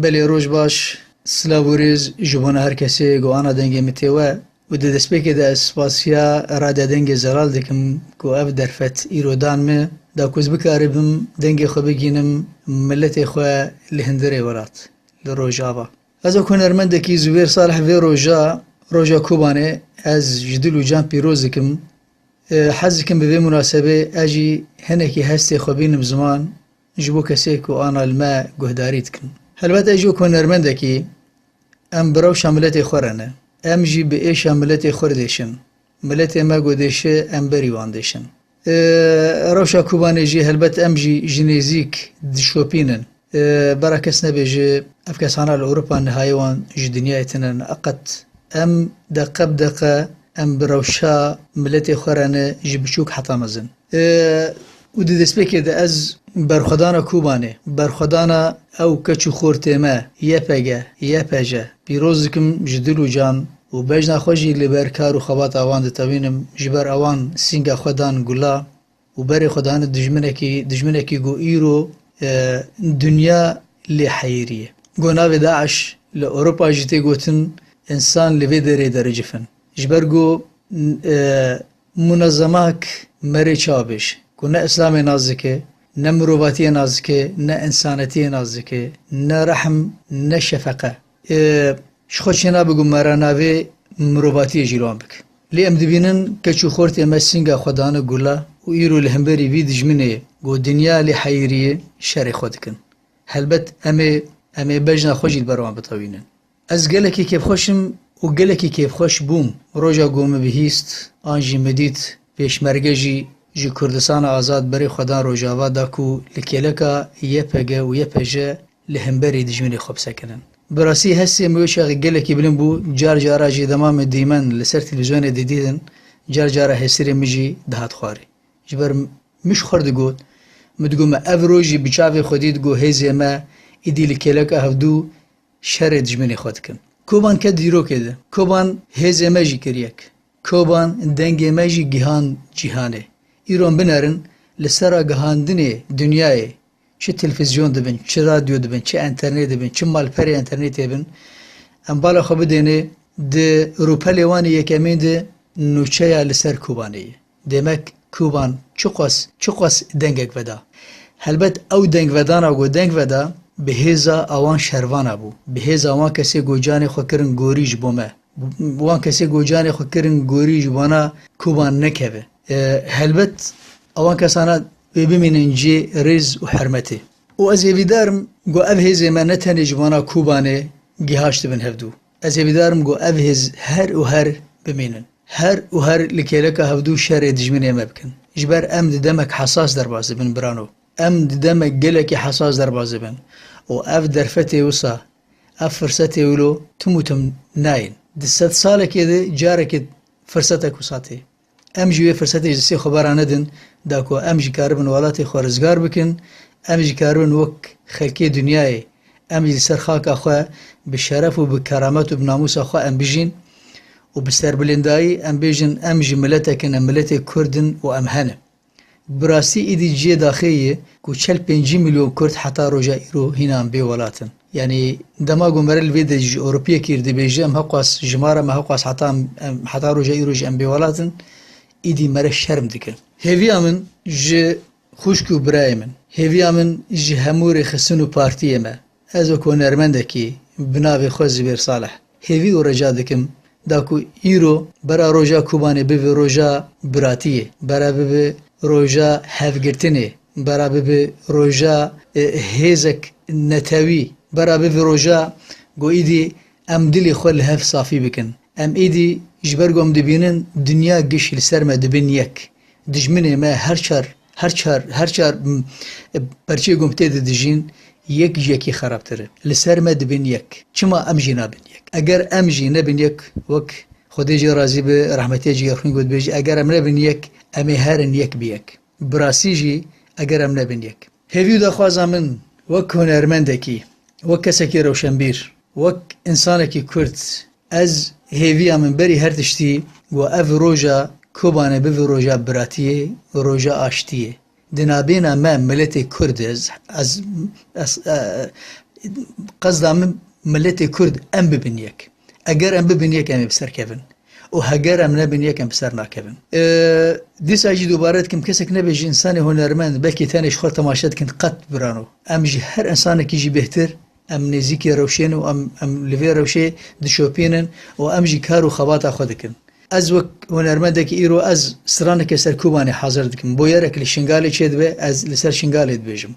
Belê roj baş, silav û rêz ji bona her kesê ku ana dengê min tê we û di destpêkê de ez spasiya Radya Dengê Zelal dikim ku ev derfet îro dan min da ku ez bikaribim dengê xwe bigihînim miletê xwe li hindirê welat li Rojava. Ez wek hunermendekî Zubêr Salih vê roja Roja Kobanê ez ji dil û can pîroz dikim. Hez dikim bi vê munasebê ez jî hinekî hestê xwe bînim ziman Ji bo kesê ku ana li me guhdarî dikin. Helbet ez jî wek hunermendekî em bi rewşa miletê xwe re ne. Em jî bi êşa miletê xwe didêşin. Miletê me ku dêşe em berî wan dêşin. Li rewşa Kubanê jî helbet em jî ji nêzîk dişopînin. Bera kes nebêje ev kesana li Ewropa nihayê wan ji dinyayê tune ne. Qet. Em deqe bi deqe em bi rewşa miletê xwe re ne ji biçûk heta mezin. Û di destpêkê de ez berxwedana Kobanê, berxwedana ew keç û xortê me, YPG, YPJ, pîroz dikim ji dil û can û bejna xwe jî li ber kar û xebata wan ditewînim, ji ber ewan sînga xwe dan gula û berê xwe dane dijminekî, dijminekî ku îro dinya lê heyîrîye. Ku navê DAIŞ li Ewropa jî tê gotin, însan li vê derê de ricif in. Ji ber ku Munezemak merê çavêj ku ne îslamê nas dike, ne mirovatiyê nas dike, ne însanetiyê nas dike, ne rehm, ne şefeqe. Ê ji xwe çênabe ku mera navê mirovatiyê jî li wan bike. Lê em dibînin keç û xortên me sînga xwe dane gula û îro li hemberî vî dijminê ku dinya lê heyirî ye, şerê xwe dikin. Helbet em ê em ê bejna xwe jî li ber wan bitewînin. Ez gelekî kêfxweş im û gelekî kêfxweş bûm roja ku min bihîst an jî min dît pêşmerge jî ji Kurdistana Azad berê xwe dan Rojava da ku li kêleka YPG û YPJ li hemberî dijminê xwe bisekinin. Bi rastî hestê min wê çaxê gelekî bilind bû, car cara jî dema min dîmen li ser televîzyonê didîtin car cara hesirê min jî dihat xwarê. Ji ber min ji xwe re digot, min digot me ev rojî bi çavê xwe dît ku hêzê me êdî li kêleka hevdû Şerê dijminê xwe dikim. Koban ket dîrokê de. Koban hêzê me jî kir yek. Koban dengê me jî gihand cîhanê. Îro binerin li sera gihandinê dinyayê çi tilfizyon dibin, çi radyo dibin, çi enternet dibin, çi malperê enternetê bin, em bala xwe bidênê di rûpelê wan ê yekemîn de nûçeya li ser Kobanê ye. Demek Kuban çiqas çiqas dengek veda. Helbet ew dengvedana ku deng veda bi hêza awan şervana bû. Bi hêza wan kesê ku canê xwe kirin gorî ji bo me. Wan kesê ku canê xwe kirin gorî ji wana Kuban nekeve. Helbet awan kesana wê bimînin cihê rêz û hermetê. Û ez hêvîdar im ku ev hêzê me ne tenê ji wana Kubanê gihaştibin hevdû. Ez ê bidarim ku ev hêz her û her bimînin, her û her li kêleka hevdû şerê dijminê me bikin. Ji ber em di demek hesas derbas dibin birano. Em di demek gelekî hesas derbas dibin û ev derfetê wisa, ev firsetê wilo tim û tim nayên. Di sedsalekê de carekê firsetek wisa tê. Em jî wê firsetê ji sê xwebera nedin da ku em jî karibin welatê xwe rizgar bikin, em jî karibin wek xelkê dinyayê em jî li ser xaka xwe bi şeref û bi keramet û bi namûsa xwe em bijîn û bi serbilindayî em bêjin em jî miletek in, em miletê Kurd in û em hene. Bi rastî êdî ciyê daxê ye ku çel pêncî milyon Kurd heta roja îro hînan bê welat in. Yanî dema ku mere li vê de ji Ewropiyekî re dibêje em hewqas jimara me hewqas heta em heta roja îro jî em bê welat in, êdî mere şerm dikin. Hêviya min ji xwişk û birayê min, hêviya min ji hemû rêxistin û partiyê me, Ez wek hunermendekî bi navê xwe Zubêr Saleh hêvî û reca dikim da ku îro bera roja Kobanê bibe roja biratiyê, bera bibe roja hevgirtinê, bera bibe roja hêzek netewî, bera bibe roja ku îdî em dilê xwe li hev safî bikin. Em îdî ji ber ku em dibînin dinya giş li ser me dibin yek. Dijminê me her çar, her çar, her çar perçê gom tê de dijîn, yek ji yekê xerabtir in. Li ser me dibin yek. Çima em jî nabin yek? Eger em jî nebin yek, wek Xwedê jê razî be, rehmetiya cî Yexwîn gotbêj, eger em nebin yek, em ê herin yek bi yek. Bi rastî jî eger em nebin yek. Hêvî û daxwaza min wek hunermendekî, wek kesekî rewşenbîr, wek însanekî Kurd, Ez hêviya min berî her tiştî got ev roja Kobane bibe roja biratiyê û roja aştiyê. Di nabêna me miletê Kurd e. Ez qesda min miletê Kurd em bibin yek. Eger em bibin yek em ê bi ser kevin û heger em nebin yek em bi ser nakevin. Dîsa jî dubare dikim kesek nebe ji însanê hunermend belkî tenê ji xwe temaşe dikin qet birano. Em ji her însanekî jî bêhtir Em nêzîkê rewşên û em em li vê rewşê dişopînin û em jî kar û xebata xwe dikin. Ez wek hunermendekî îro ez straneke ser Kobanê hazir dikim. Boyerek li Şingalê çêdibe ez li ser Şingalê dibêjim.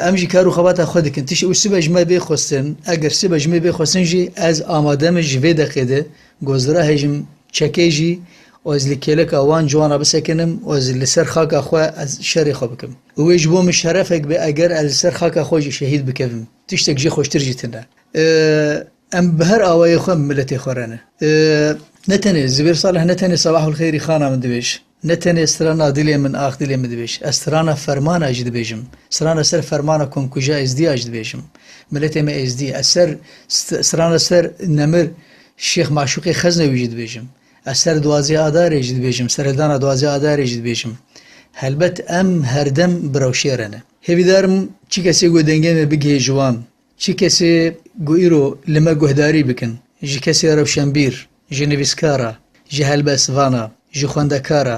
Em jî kar û xebata xwe dikin tişt û sibe ji me bê xwestin. Eger sibe ji me bê xwestin jî ez amade me ji vê deqê de gozdira hejim çekê jî Ez li kêleka wan ciwan re bisekinim û ez li ser xaka xwe ez şerê xwe bikim. Û wê ji bo min şerefek be eger ez li ser xaka xwe jî şehîd bikevim. Tiştek jê xweştir jî tune. Em bi her awayê xwe miletê xwe re ne. Ne tenê Zubêr Salih ne tenê Sebahul Xeyrî Xana min dibêj, ne tenê strana dilê min ax dilê min dibêj. Ez strana fermana jî dibêjim. Strana ser fermana Komkuja Êzdî ya jî dibêjim. Miletê me Êzdî ye. Ez ser strana ser Nemir Şêx Maşûqê Xeznewî jî dibêjim. Ez ser duwazdeh Adarê jî dibêjim, seredana duwazdeh Adarê jî dibêjim. Helbet em herdem bi rewşê re ne. Hêvîdar im çi kesê ku dengê me bigihê ji wan, çi kesê ku îro li me guhdarî bikin, ji kesê rewşenbîr, ji nivîskara, ji helbestvana, ji xwendekara,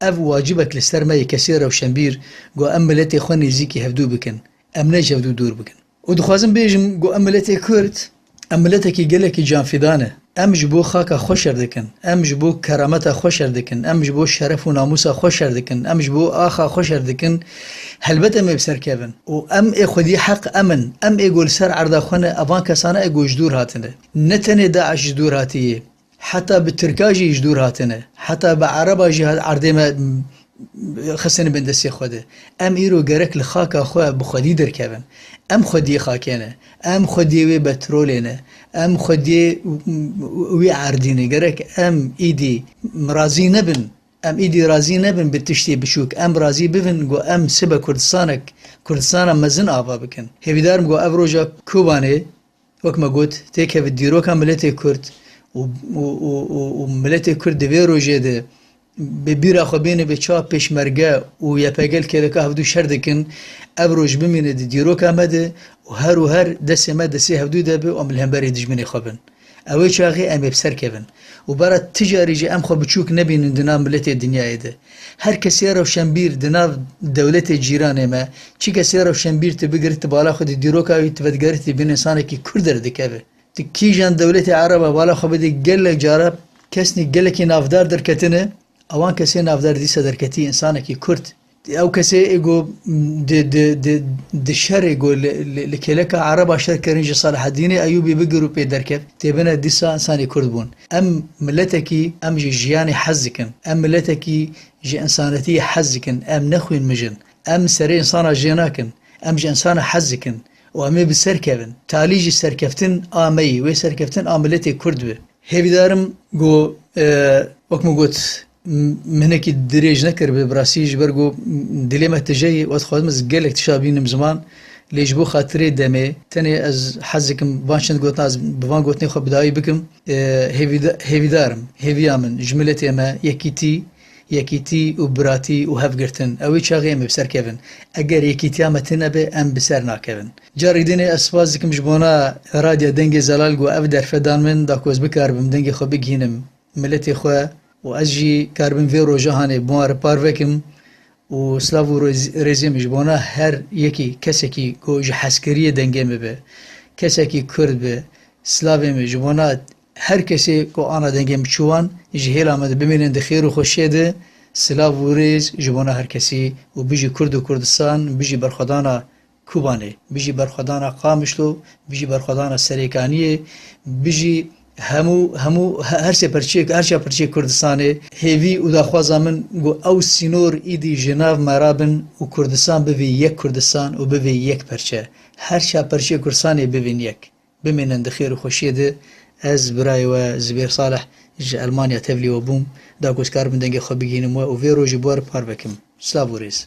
Ev wacibek li ser me yê kesê rewşenbîr ku em miletê xwe nêzîkî hevdû bikin, em ne ji hevdû dûr bikin. Û dixwazim bêjim ku em miletê Kurd, em miletekî gelekî canfîdan e. Em ji bo xaka xwe şer dikin, em ji bo kerameta xwe şer dikin, em ji bo şeref û namûsa xwe şer dikin, em ji bo axa xwe şer dikin. Helbet em ê bi ser kevin. Û em ê xwedî heq em in. Em ê ku li ser erda xwe ne, evan kesan e ku ji dûr hatine. Ne tenê DAIŞ ji dûr hatiye, Heta bi tirka jî ji dûr hatine. Heta bi ereba jî erdê me xistine bin destê Xwedê. Em îro gerek li xaka xwe bi xwedî derkevin. Em xwediyê xakê ne. Em xwediyê wê betrolê ne. Em xwediyê wê erdî ne. Gerek em îdî razî nebin, em îdî razî nebin bi tiştê biçûk. Em razî bibin ku em sibe Kurdistanek, Kurdistana mezin ava bikin. Hêvîdarim ku ev roja Kobanê, Wek me got, têkevî dîroka miletê Kurd û miletê Kurd di vê rojê de bi bîra xwe bêne bê çawa Pêşmerge û YPG li KDK hevdû şer dikin, ev roj bimîne di dîroka me de û her û her destê me destê hevdû de be û em li hemberî dijminê xwe bin. Ewê çaxê em ê bi ser kevin û bera ti carî jî em xwe biçûk nebînin di nav miletê dinyayê de. Her kesê rewşenbîr di nav dewletê cîranê me, çi kesê rewşenbîr tu bigir ti bala xwe di dîroka wî tu vedigerî tu bin insanekî Kurd derdikeve. Tu kîjan dewletê Ereba bala xwe bidî gelek cara kesnî gelekî navdar derketine, ewan kesê navdar dîsa derketî insanekî Kurd. Ew kesê ê ku di di di di şerê ku li li kêleka Ereba şer kirin ji Selahedînê Eyûbî bigir û pê derket têbine dîsa insanê Kurd bûn. Em miletekî em ji jiyanê hez dikin, em miletekî ji însanetiyê hez dikin, em ne xwîn mijin, em serê însana jê nakin, em ji însana hez dikin û em ê bi ser kevin. Talî jî serkeftin a me yê, wê serkeftin a miletê Kurd bi. Hêvîdarim ku wek min got, Mihnekî dirêj nekir bi birasî ji ber ku dilê me tije yê û ez dixwazim ez gelek tişa bînim ziman lê ji bo xatirê demê tenê ez hez dikim van çend gotina ez bi van gotinê xwe bi dawî bikim hêvîdar im. Hêviya min ji miletê me yekîtî yekîtî û biratî û hevgirtin ew ê çaxê em ê bi ser kevin. Eger yekîtiya me tune be em bi ser nakevin. Carek din ê ez spas dikim ji bona Radya Dengê Zelal ku ev derfe dan min da ku ez bikaribim dengê xwe bigihînim miletê xwe û ez jî karibim vê roja hanê bi wan re par vekim û silav û rêzê min ji bo wan her yekî kesekî ku ji hezkiriyê dengê min be, kesekî kurd be silavê min ji bo wan her kesê ku ana dengê min çû wan ji hêla min de bimînin di xêr û xweşiyê de silav û rêz ji bo wan her kesî û bijî kurd û kurdistan, bijî berxwedana. Kobanê, bijî berxwedana Qamişlo, bijî berxwedana Serêkaniyê, bijî hemû hemû her çê pirçeyê her çiya pirçeyê Kurdistanê. Hêvî û daxwaza min ku ew sînor îdî ji nav me re bin û Kurdistan bivî yek Kurdistan û bivî yek pirçe. Her çiya pirçeyê Kurdistanê bivîn yek. Bimînin di xêr û xweşiyê de. Ez birayê we Zubêr Saleh ji Elmanya tevlî we bûm. Da ku ez karibim dengê xwe bigihînim we û vê rojê bi we re parve bikim. Silav û rêz.